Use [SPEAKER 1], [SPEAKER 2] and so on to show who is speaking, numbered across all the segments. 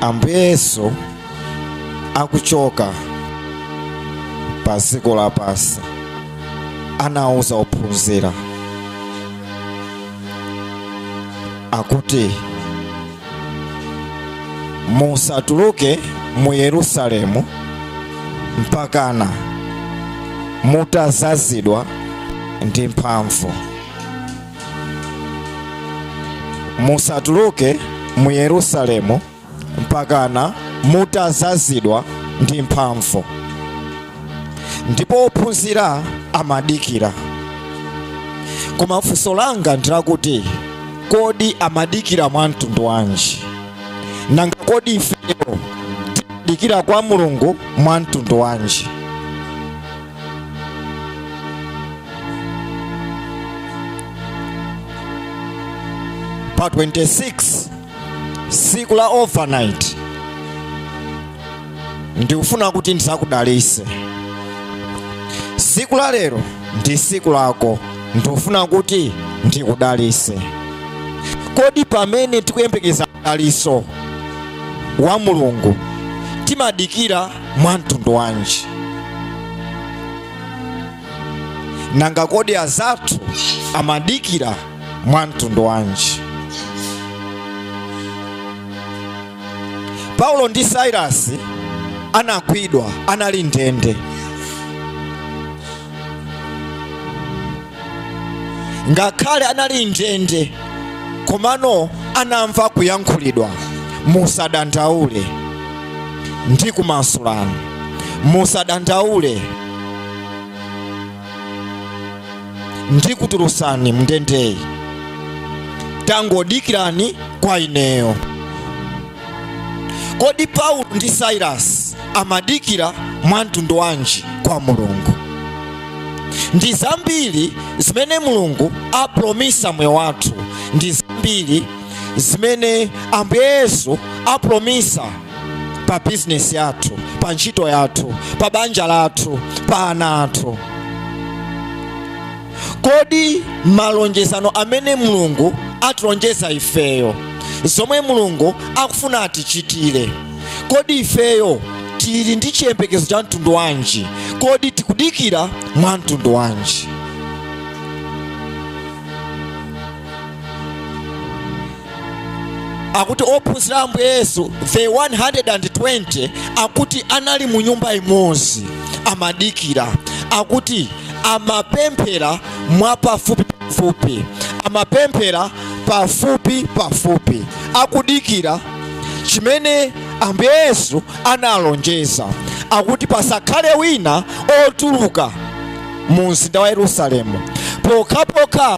[SPEAKER 1] ambuye yesu akuchoka pa dziko lapansi anauza ophunzira akuti musatuluke mu yerusalemu mpakana mutazazidwa ndi mphamvu musatuluke mu yerusalemu mpakana mutazazidwa ndi mphamvu ndipo ophunzira amadikira koma funso langa ndilakuti kodi amadikira mwa mtundu wanji nanga kodi ifeyo timadikira kwa mulungu mwa mtundu wanji pa 26 siku la overnight ndikufuna kuti ndizakudalise siku la lero ndi siku lako ndikufuna kuti ndikudalise kodi pamene tikuyembekeza mdalitso wa mulungu timadikira mwa mtundu wanji nanga kodi azathu amadikira mwa mtundu wanji paulo ndi sailasi anagwidwa anali mndende ngakhale anali mndende komano anamva kuyankhulidwa musadandaule ndikumasulani musadandaule ndikutulusani mndendeyi tangodikirani kwa ineyo kodi paulo ndi sailasi amadikira mwa mtundu wanji kwa mulungu ndi zambiri zimene mulungu apromisa mmoyo wathu ndi zambiri zimene ambuye yesu apromisa pa bizinesi yathu pa ntchito yathu pa banja lathu pa ana athu kodi malonjezano amene mulungu atilonjeza ifeyo zomwe mulungu akufuna atichitire kodi ifeyo tili ndi chiyembekezo cha mtundu wanji kodi tikudikira mwa mtundu wanji akuti ophunzira a ambuye yesu the 120 akuti anali mu nyumba imodzi amadikira akuti amapemphera mwapafupi pafupi amapemphera pafupi pafupi akudikira chimene ambuye yesu analonjeza akuti pasakhale wina otuluka mu mzinda wa yerusalemu pokhapokha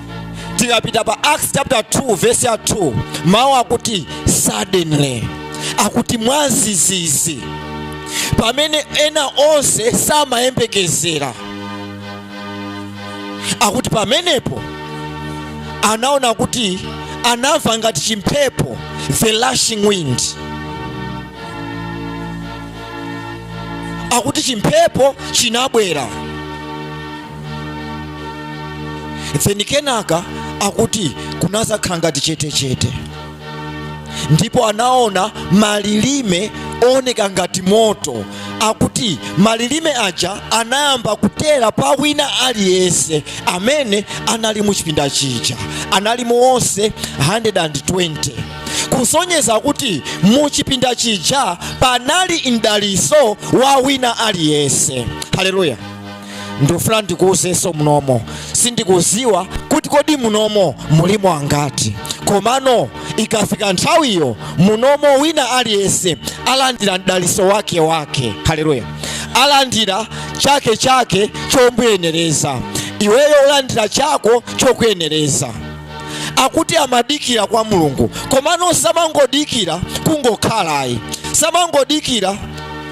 [SPEAKER 1] tikapita pa acts chapter 2 verse ya 2 mawu akuti suddenly akuti mwazizizi pamene ena onse samayembekezera akuti pamenepo anaona kuti anamva ngati chimphepo the rushing wind akuti chimphepo chinabwera then kenaka akuti kunazakhala ngati chetechete ndipo anaona malilime ooneka ngati moto akuti malilime aja anayamba kutera pa wina aliyense amene anali mu chipinda chija analimo onse 120 kusonyeza kuti mu chipinda chija panali mdaliso wa wina aliyense haleluya ndikufuna ndikuuzenso munomo sindikuziwa kuti kodi munomo mulimo angati komano ikafika nthawiyo munomo wina aliyense alandira mdaliso wake wake haleluya alandira chake chake chomuyenereza iweyo ulandira chako chokuyenereza akuti amadikira kwa mulungu komano samangodikira kungokhala ayi samangodikira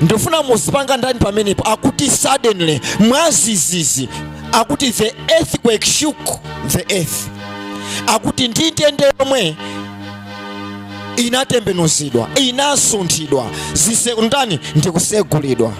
[SPEAKER 1] ndifuna muzipanga underline pamenepo akuti suddenly mwazizizi akuti the earthquake shook the earth akuti ndi ndende yomwe inatembenuzidwa inasunthidwa zise ndani ndikusegulidwa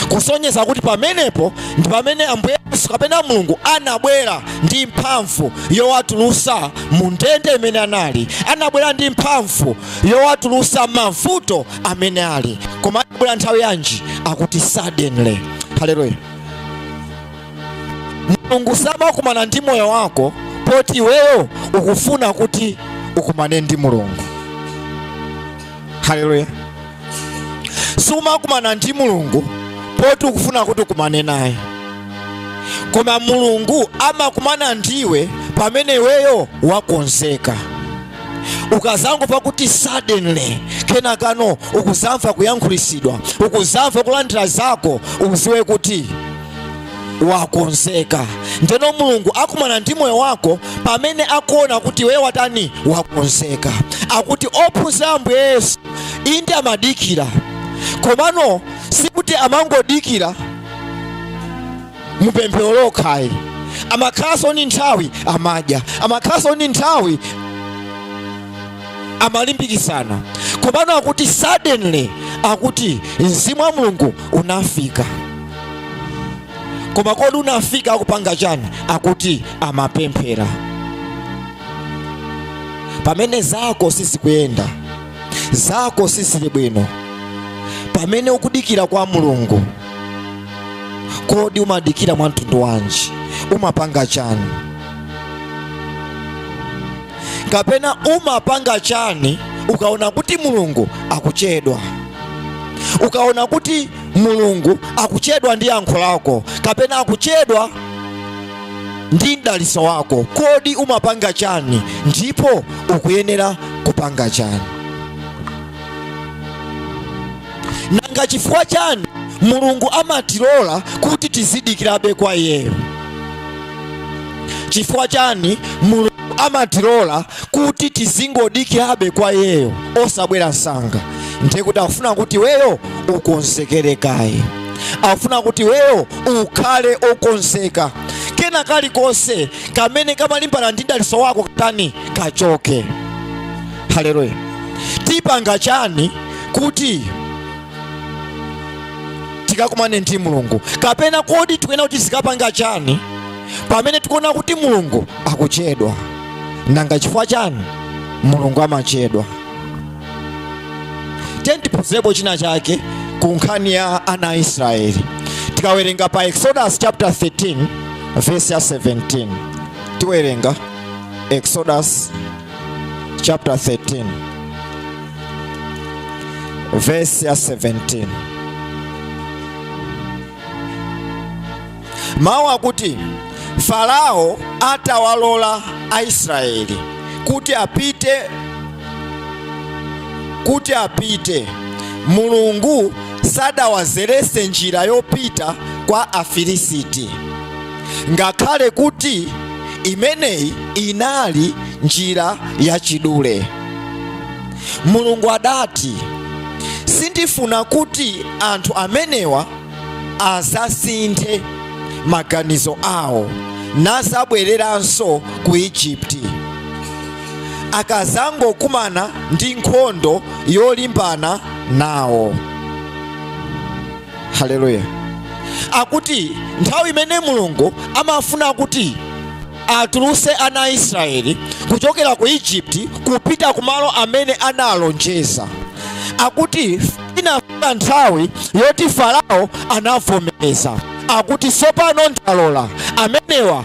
[SPEAKER 1] kusonyeza kuti pamenepo ndi pamene ambuye yesu kapena mulungu anabwera ndi mphamvu yowatulusa mu ndende imene anali anabwera ndi mphamvu yowatulusa mavuto amene ali koma anabwera nthawi yanji akuti suddenly haleluya mulungu samakumana ndi moyo wako poti iweyo ukufuna kuti ukumane ndi mulungu haleluya sumakumana ndi mulungu poti ukufuna kuti ukumane naye koma mulungu amakumana ndiwe pamene iweyo wakonzeka ukazangomva kuti suddenly kenakano ukuzamva kuyankhulisidwa ukuzamva kulandira zako uziwe kuti wakonzeka ndeno mulungu akumana ndi moyo wako pamene akuona kuti iwe watani wakonzeka akuti ophunzira a ambuye yesu inde amadikira komano sikuti amangodikira mupemphero lokhayi amakhalanso ni nthawi amadya amakhalanso ni nthawi amalimbikisana komano akuti suddenly akuti mzimu wa mulungu unafika koma kodi unafika akupanga chani akuti amapemphera pamene zako sizikuyenda zako sizili bwino pamene ukudikira kwa mulungu kodi umadikira mwa mtundu wanji umapanga chani kapena umapanga chani ukaona kuti mulungu akuchedwa ukaona kuti mulungu akuchedwa ndi yankho lako kapena akuchedwa ndi mdaliso wako kodi umapanga chani ndipo ukuyenera kupanga chani nanga chifukwa chani mulungu amatilola kuti tizidikirabe kwa iyeyo chifukwa chani mulungu amatilola kuti tizingodikirabe kwa iyeyo osabwera nsanga nde kuti akufuna kuti weyo ukonzekere kaye akufuna kuti weyo ukhale okonzeka kena kalikonse kamene kamalimbana ndi mdaliso wako katani kachoke haleluya tipanga chani kuti tikakumane ndi mulungu kapena kodi tikuyena kuti tizikapanga chani pamene tikuona kuti mulungu akuchedwa nanga chifukwa chani mulungu amachedwa tiyeni tiphunzirepo china chake ku nkhani ya ana a israeli tikawerenga pa exodus chapter 13 verse ya 17 tiwerenga exodus chapter 13 verse ya 17 mawu akuti farao atawalola aisraeli kuti apite kuti apite mulungu sadawazerese njira yopita kwa afilisiti ngakhale kuti imeneyi inali njira yachidule. Mulungu adati, Sindifuna kuti anthu amenewa adzasinthe maganizo awo nadzabwereranso ku Ijipiti. Akadzangokumana ndi nkhondo yolimbana nawo. haleluya akuti nthawi imene mulungu amafuna kuti atuluse ana a israeli kuchokera ku egypt kupita ku malo amene analonjeza akuti inafika nthawi yoti farao anavomereza akuti tsopano ndalola amenewa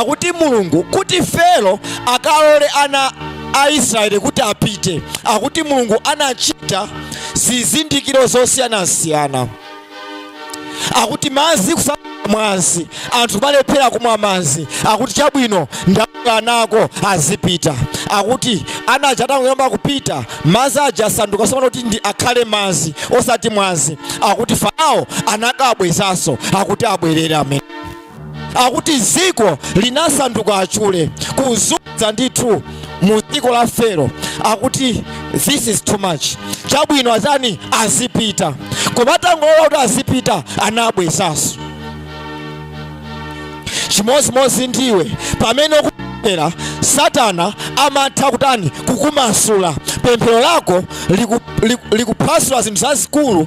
[SPEAKER 1] akuti mulungu kuti fero akalole ana a israeli kuti apite akuti mulungu anachita zizindikiro zosiyanasiyana akuti madzi kusanduka mwazi anthu kumalephera kumwa madzi akuti chabwino ndakana nako azipita akuti ana aja atangoyamba kupita madzi aja asanduka sopano kuti ndi akhale madzi osati mwazi akuti farao anakabwezanso akuti abwerere amene akuti dziko linasanduka achule kudzadza ndithu mu dziko la fero akuti this is too much chabwino azitani azipita koma atangolola kuti azipita anabwezaso chimodzimodzi ndiwe pamene ukupemphera satana amatha kutani kukumasula pemphero lako liku- liku- likuphwasula zinthu zazikulu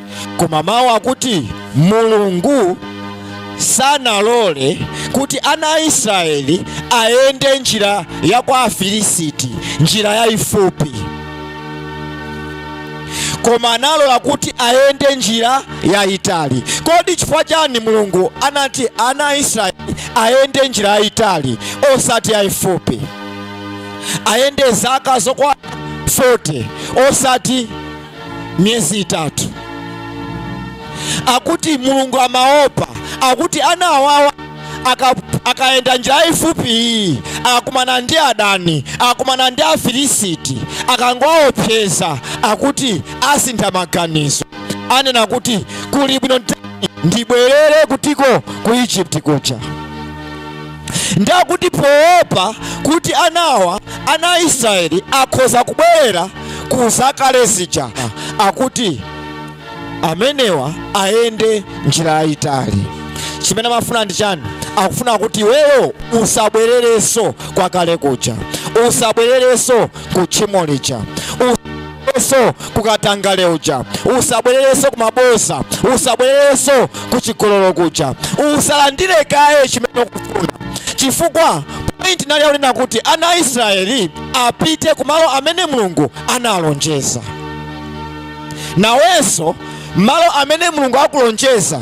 [SPEAKER 1] Koma mawu akuti Mulungu sanalole kuti ana a Israeli ayende njira ya kwa Afilisiti, njira yayifupi, koma analola kuti ayende njira yayitali. Kodi chifukwa chani Mulungu anati ana a Israeli ayende njira yayitali osati yayifupi? Ayende zaka zokwana 40 osati miyezi itatu akuti mulungu amaopa akuti ana awawa aka- akayenda njira yayifupi iyi akakumana ndi adani akakumana ndi afilisiti akangowaopseza akuti asintha maganizo anena kuti kuli bwino ndibwerere kutiko ku egypt kuja ndi akuti poopa kuti anawa ana a israeli akhoza kubwerera ku zakale zija akuti amenewa ayende njira yayitali chimene amafuna ndi chani akufuna kuti iweyo usabwererenso kwa kale kuja usabwererenso ku tchimo lija usabwererenso kukatangale uja usabwererenso kumaboza usabwererenso kuchigololo kuja usalandire kaye chimene ukufuna chifukwa point inali yakunena kuti ana israeli apite kumalo amene mulungu analonjeza nawenso malo amene mulungu akulonjeza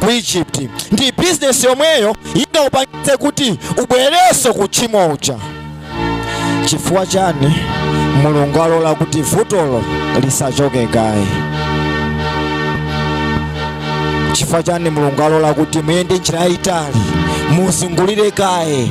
[SPEAKER 1] ku egypt ndi bizinesi yomweyo inakupangitse kuti ubwererenso ku tchimo uja chifukwa chani mulungu alola kuti vutolo lisachoke kaye chifukwa chani mulungu alola kuti muyende njira yayitali muzungulire kaye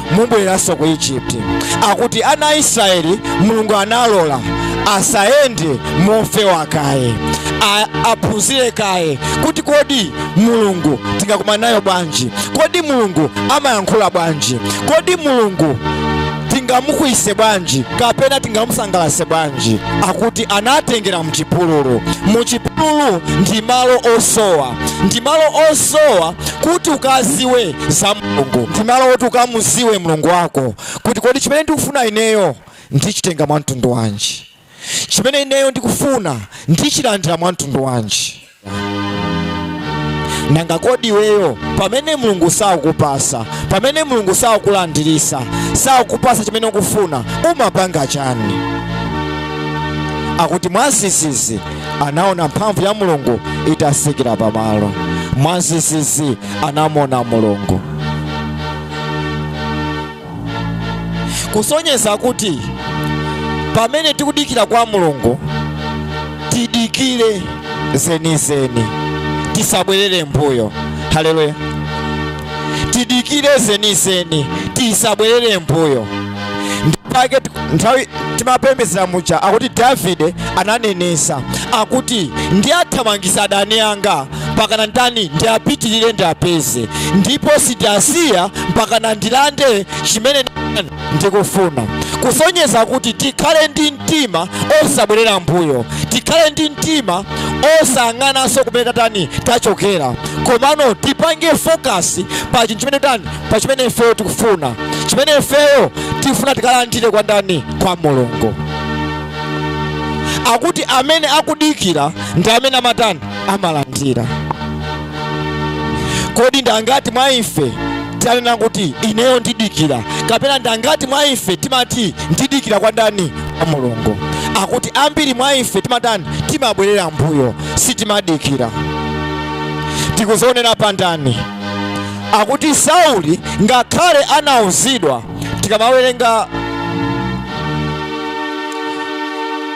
[SPEAKER 1] mubwereranso ku egypt akuti ana israeli mulungu analola asayende mofewa kaye aphunzire kaye kuti kodi mulungu tingakumane naye bwanji kodi mulungu amayankhula bwanji kodi mulungu tingamukwiyise bwanji kapena tingamusangalatse bwanji akuti anatengera mchipululu muchipululu ndi malo osowa ndi malo osowa kuti ukaziwe za mulungu ndi malo oti ukamuziwe mulungu wako kuti kodi chimene ndikufuna ineyo ndichitenga mwa mtundu wanji chimene ineyo ndikufuna ndichilandira mwa mtundu wanji nanga kodi iweyo pamene mulungu sakupasa pamene mulungu sakulandirisa sakupasa chimene ukufuna umapanga chani akuti mwazizizi anaona mphamvu ya mulungu itasikira pamalo mwazizizi anamuona mulungu kusonyeza kuti pamene tikudikira kwa mulungu tidikire zenizeni tisabwerere mbuyo haleluya tidikire zenizeni tisabwerere mbuyo ndipake nthawi timapembedzera muja akuti davide ananenesa akuti ndi athamangisa adani anga mpaka na ndani ndi apitirire ndi apeze ndipo sindiasiya mpaka na ndilande chimene ndikufuna kusonyeza kuti tikhale ndi mtima osabwerera mbuyo tikhale ndi mtima osayang'ananso kumene tatani tachokera komano tipange focus pa chinthu chimene tani pa chimene ifeyo tikufuna chimene ifeyo tifuna tikalandire kwa ndani kwa mulungu akuti amene akudikira ndi amene amatani amalandira kodi ndangati mwa ife tanena kuti ineyo ndidikira kapena ndangati mwa ife timati ndidikira kwa ndani kwa mulungu akuti ambiri mwa ife timatani timabwerera mbuyo sitimadikira tikuzionera pa ndani akuti sauli ngakhale anauzidwa tikamawerenga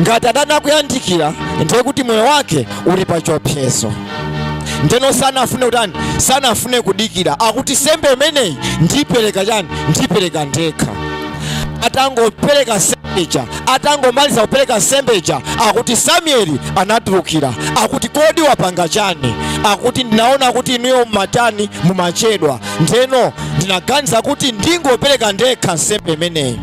[SPEAKER 1] ngati adani akuyandikira ndiye kuti moyo wake uli pa chiopsezo ndeno sanafune kutani sanafune kudikira akuti nsembe imeneyi ndipereka chani ndipereka ndekha atangopereka nsembeja atangomaliza kupereka nsembeja akuti samueli anatulukira akuti kodi wapanga chani akuti ndinaona kuti inuyo mumatani mumachedwa ndeno ndinaganiza kuti ndingopereka ndekha nsembe imeneyi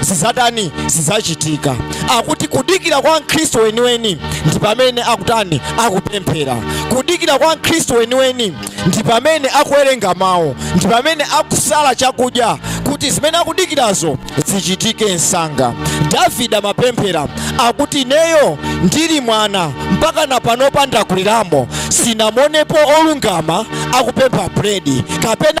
[SPEAKER 1] zizatani zizachitika akuti kudikira kwa mkhristu weniweni ndi pamene akutani akupemphera kudikira kwa mkhristu weniweni ndi pamene akuwerenga mawu ndi pamene akusala chakudya kuti zimene akudikirazo zichitike msanga davide amapemphera akuti ineyo ndili mwana mpakana panopa ndakuliramo sinamuonepo olungama akupempha buledi kapena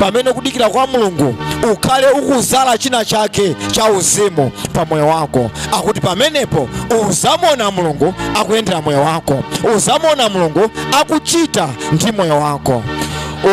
[SPEAKER 1] pamene ukudikira kwa mulungu ukhale ukuzala china chake cha uzimu pa moyo wako akuti pamenepo uzamuona mulungu akuyendera moyo wako uzamuona mulungu akuchita ndi moyo wako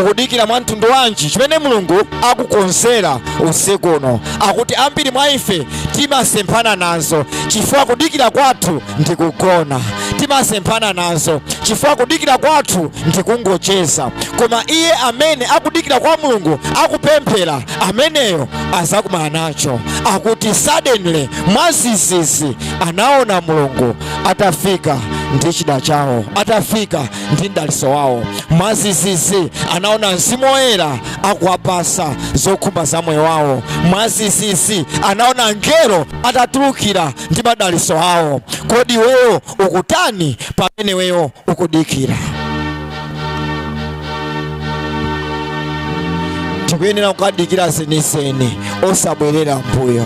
[SPEAKER 1] ukudikira mwa mtundu wanji chimene mulungu akukonzera usiku uno akuti ambiri mwa ife timasemphana nazo chifukwa kudikira kwathu ndi kugona timasemphana nazo chifukwa kudikira kwathu ndi kungocheza koma iye amene akudikira kwa mulungu akupemphera ameneyo azakumana nacho akuti suddenly mwazizizi anaona mulungu atafika ndi chida chawo atafika ndi mdaliso wawo mwazizizi anaona mzimu woyera akuwapasa zokhumba za moyo wawo mwazizizi anaona angelo atatulukira ndi madaliso awo kodi iweyo ukutani pamene iweyo ukudikira tikuyenera kudikira zenizeni osabwerera mbuyo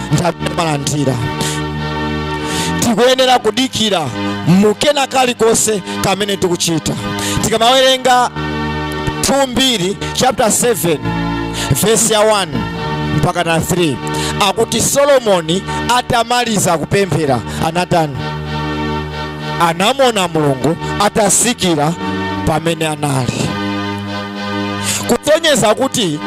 [SPEAKER 1] ndi amene amalandira tikuyenera kudikira mu kena kalikonse kamene tikuchita tikamawerenga 2 mbiri chapter 7 verse ya 1 mpakana 3 akuti solomoni atamaliza kupemphera anatani anamuona mulungu atasikira pamene anali kusonyeza kuti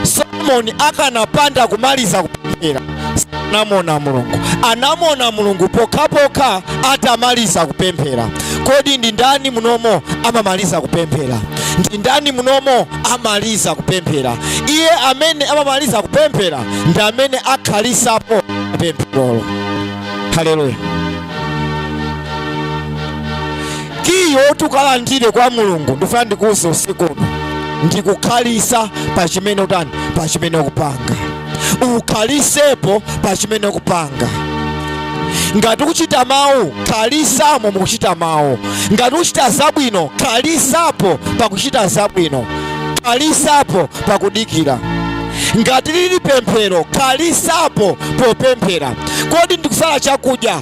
[SPEAKER 1] solomoni akanapanda kumaliza kupemphera sanamuona mulungu anamuona mulungu pokhapokha atamaliza kupemphera kodi ndi ndani munomo amamaliza kupemphera ndi ndani munomo amaliza kupemphera iye amene amamaliza kupemphera ndi amene akhalisa pa pempherolo haleluya Kiyi woti ukalandire kwa Mulungu ndifuna ndikuuze usiku uno ndikukhalisa pa chimene utani pa chimene ukupanga ukhalisepo pa chimene ukupanga ngati ukuchita mawu khalisamo mukuchita mawu ngati ukuchita zabwino khalisapo pakuchita zabwino khalisapo pakudikira ngati lili pemphero khalisapo popemphera kodi ndikusala chakudya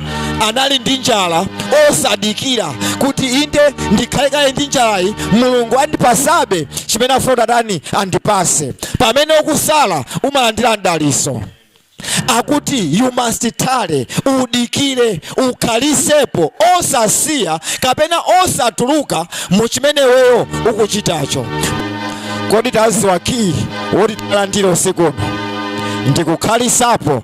[SPEAKER 1] anali ndi njala osadikira kuti inde ndikhale kaye ndi njalayi Mulungu andipasabe chimene afuna kuti atani andipase pamene ukusala umalandira mdaliso akuti you must tarry udikire ukhalisepo osasiya kapena osatuluka mu chimene weyo ukuchitacho kodi taziwa kiyi woti talandira usiku uno ndikukhalisapo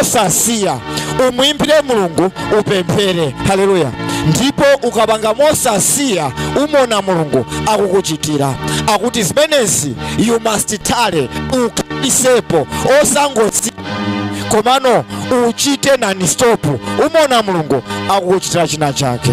[SPEAKER 1] osasiya umuimbire Mulungu upemphere haleluya ndipo ukapanga mosasiya umuona Mulungu akukuchitira akuti zimenezi you must tarry ukhalisepo osangosiya komano uchite non stop umuona Mulungu akukuchitira china chake